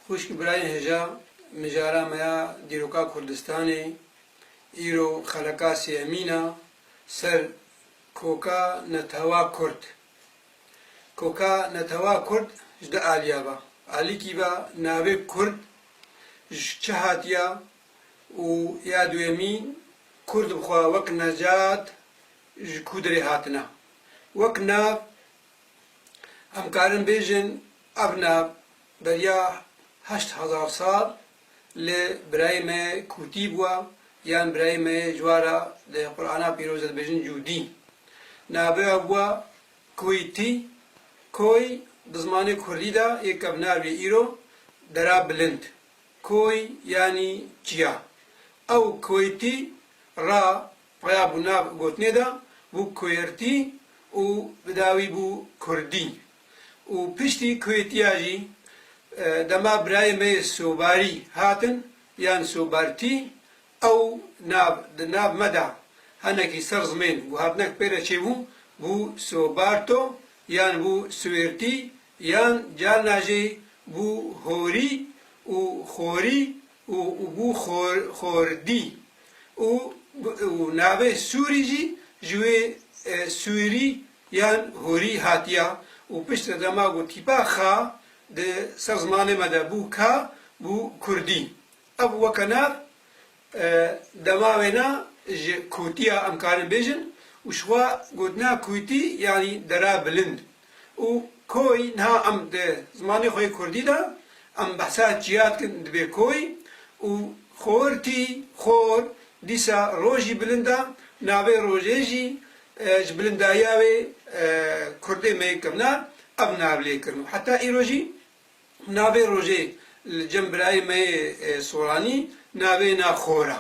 Xwişk birayên hêja mijara me ya dîroka Kurdistanê, îro xeleka sêyemîn a ser koka netewa kurd. Koka netewa kurd ji du aliya be. Alikî be navê kurd ji çi hatiya û ya duyemî kurd bi xwe wek necat ji kû derê hatine. Wek nav Em karin bêjin ev ne beriya heşt hezar sal li birayê me kûtî bûe yan birayê me yê cwara di Qur'ana pîroz de dibêjin cûdî. Navê we Koytî, Koy di zimanê kurdî de yê kevnarvê îro dera bilind, koy yanî çiya. Ew Koytî ra Raya bû nav gotinê de bû Kuêrtî û bi dawî bû Kurdî û piştî Kuêtiya jî dema birayê me yê Sobarî hatin yan Sobartî ew nav di nav me de henekî ser zimên guhatinek pê re çêbû bû Sobarto yan bû Suêrtî yan carna jî bû Horî û Xorî û bû xordî û navê Sûrî jî ji wê Sûrî yan Hûrî hatiya û piştre de ma got tîpa Kha di ser zimanê me de bû Ka bû Kurdî. Ev weke nav dema wêna ji Kûtiya em karin bêjin û şiwa gotina Kûtî yanî dera bilind. Û koy niha em di zimanê xwe yê kurdî de em behsa çiya dikin dibê koy û xortî, xor, dîsa rojî bilind e, navê rojê jî ji bilindayiya wê kurdê me yê kevna ev nav lê kirin û heta îro jî navê rojê li cem birayê me yê soranî navê na xor e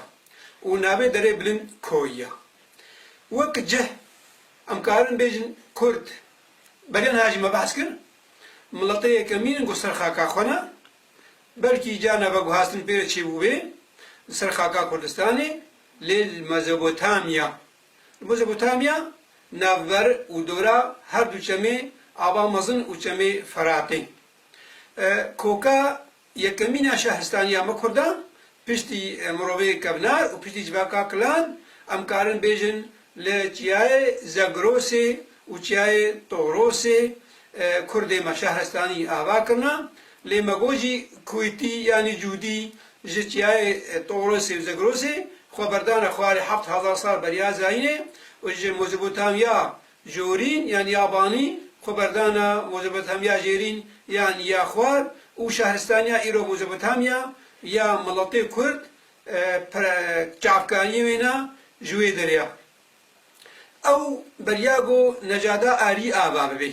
û navê derê bilind koy e. Wek cih. Em karin bêjin Kurd. Belê niha jî me behs kir, miletê yekemîn in ku ser xaka xwe ne, belkî ca nava guhastin pê re çêbûbê li ser xaka Kurdistanê lê li Mezopotamya. Li Mezopotamya navber û dora her du çemê Ava Mezin û çemê Feratê. Koka Yekemîna şehistaniya me kurdan piştî mirovê kevnar û piştî civaka kilan em karin bêjin li çiyayê Zegrosê û çiyayê Torosê kurdê me şehrestanî ava kirina lê me got jî Kûytî yanî Cûdî ji çiyayê Torosê û Zegrosê xwe berdane xwarê heft hezar sal beriya zayînê û ji Mozopotamiya Jorîn yan Yabanî, xweberdana Mozopotamiya Jêrîn yan ya Xwar û şehristaniya îro Mozopotamiya ya miletê Kurd çavkayî wêna ji wê derê ya. Ew beriya ku necada arî ava bibê.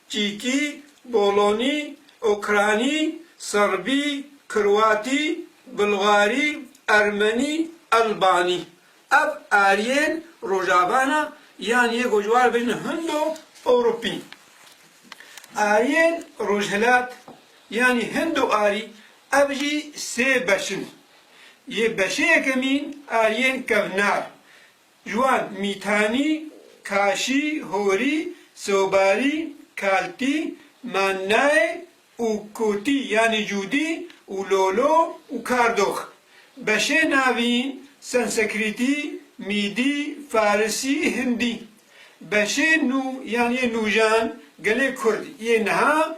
Çîkî, Bolonî, Ûkranî, Serbî, Kroatî, Bulgarî, Ermenî, Elbanî. Ev aryên Rojava ne yan yê ku ji wan re bêjin Hindo Ewropî. Aryên Rojhilat yanî Hindo Arî ev jî sê beş in. Yê beşê yekemîn aryên kevnar Ji wan, Mîtanî, Kaşî, Horî, Sobarî, Kaltî, Mannaê û Kotî yanî Cûdî û Lolo û Kardox. Beşê navîn, Sansekrîtî, Mîdî, Farisî, Hindî. Beşê nû yan yê nûjan gelê Kurd yê niha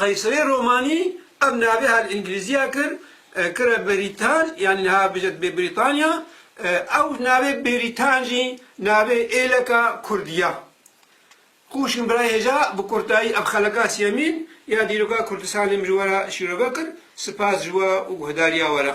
Qeyserê romanî ev navê her li îngilîzî ya kir kire Beritan yanî niha bije dibê Brîtanya. Ew navê Beritan jî navê êleka kurdî ya. Xwe wişîn birayê hêja bi kurtayî ev xeleka siyemîn ya dîroka Kurdistanê min ji we re şîrove kir. Sipas ji we û guhdarîya we re.